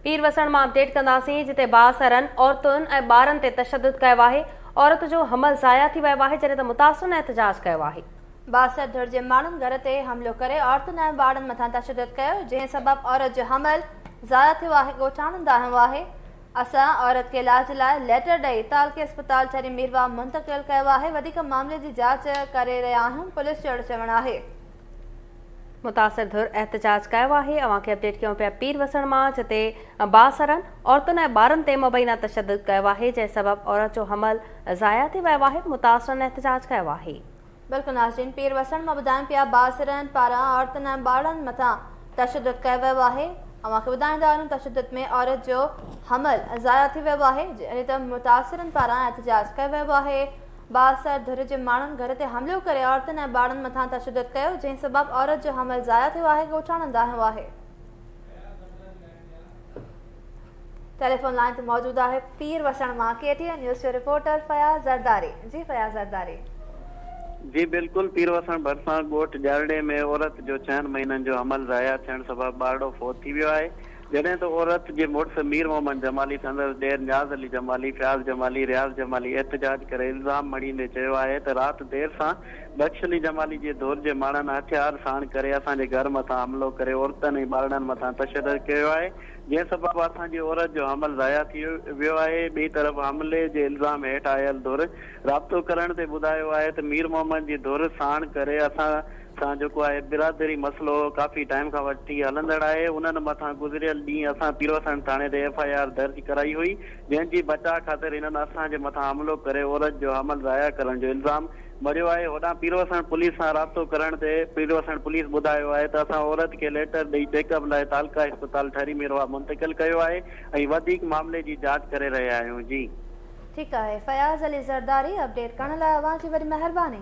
پير وسڻ مان اپڊيٽ ڪنداسين جتي بااثرن عورتن ۽ ٻارن تي تشدد ڪيو آهي عورت جو حمل ضايع ٿي ويو آهي جڏهن ته متاثرن احتجاج ڪيو آهي. بااثر ڌر جي ماڻهن گهر تي حملو ڪري عورتن ۽ ٻارن مٿان تشدد ڪيو جنهن سبب عورت جو حمل ضايع ٿيو آهي ڳوٺاڻن دانهيو آهي اسان عورت کي علاج لاء ليٽر ڏئي تعلقي اسپتال ٺري ميرواهه منتقل ڪيو آهي وڌيڪ معاملي جي جاچ ڪري رهيا آهيون پوليس جو اهڙو چوڻ آهي. متاثر ڌر احتجاج ڪيو آهي اوهان کي اپڊيٽ ڪيون پيا پير وسڻ مان جتي بااثرن عورتن ۽ ٻارن تي مبينا تشدد ڪيو آهي جنهن سبب عورت جو حمل ضايع ٿي ويو آهي متاثرن احتجاج ڪيو آهي بلڪل ناظرين پير وسڻ مان ٻڌايون پيا بااثرن پاران عورتن ۽ ٻارڙن مٿان تشدد ڪيو ويو آهي اوهان کي ٻڌائيندا آهيون تشدد ۾ عورت جو حمل ضايع ٿي ويو آهي جڏهن ته متاثرن پاران احتجاج ڪيو ويو آهي بااثر ڌر جي ماڻهن گهر تي حملو ڪري عورتن ۽ ٻارڙن مٿان تشدد ڪيو، جنهن سبب عورت جو حمل ضايع ٿيو آهي، ڳوٺاڻن دانهيو آهي. ٽيليفون لائين تي موجود آهي پير وسڻ مان ڪي ٽي اين نيوز جو رپورٽر فياض زرداري، جي فياض زرداري. جي بلڪل پير وسڻ ڀرسان ڳوٺ ڄرڙي ۾ عورت جو ڇهن مهينن جو حمل ضايع ٿيڻ سبب ٻارڙو فوت ٿي ويو آهي، جڏهن ته عورت جي مڙس مير محمد جمالي سندس ڏير نياز علي جمالي، فياض جمالي، رياض جمالي احتجاج ڪري الزام مڙهي ۾ چيو آهي ته رات دير سان بخش علي جمالي جي ڌر جي ماڻهن هٿيار ساڻ ڪري اسان جي گهر مٿان حملو ڪري عورتن ۽ ٻارڙن مٿان تشدد ڪيو آهي جنهن سبب اسان جي عورت جو حمل ضايع ٿي ويو آهي ٻئي طرف حملي جي الزام هيٺ آيل ڌر رابطو ڪرڻ تي ٻڌايو آهي ته مير محمد جي ڌر ساڻ ڪري اسان سان جيڪو آهي برادري مسئلو ڪافي ٽائيم کان وٺي هلندڙ آهي انهن مٿان گذريل ڏينهن اسان پيروسڻ ٿاڻي تي ايف آء آر درج ڪرائي هئي جنهن جي بچاء خاطر هنن اسان جي مٿان حملو ڪري عورت جو حمل ضايع ڪرڻ جو الزام مڙهيو آهي هوڏانهن پيروسڻ پوليس سان رابطو ڪرڻ تي پيروسڻ پوليس ٻڌايو آهي ته اسان عورت کي ليٽر ڏئي چيڪ اپ لاء تعلقه اسپتال ٺري ميرواهه منتقل ڪيو آهي ۽ وڌيڪ معاملي جي جاچ ڪري رهيا آهيون جي ٺيڪ آهي فياض علي زرداري اپڊيٽ ڪرڻ لاء اوهان جي وڏي مهرباني.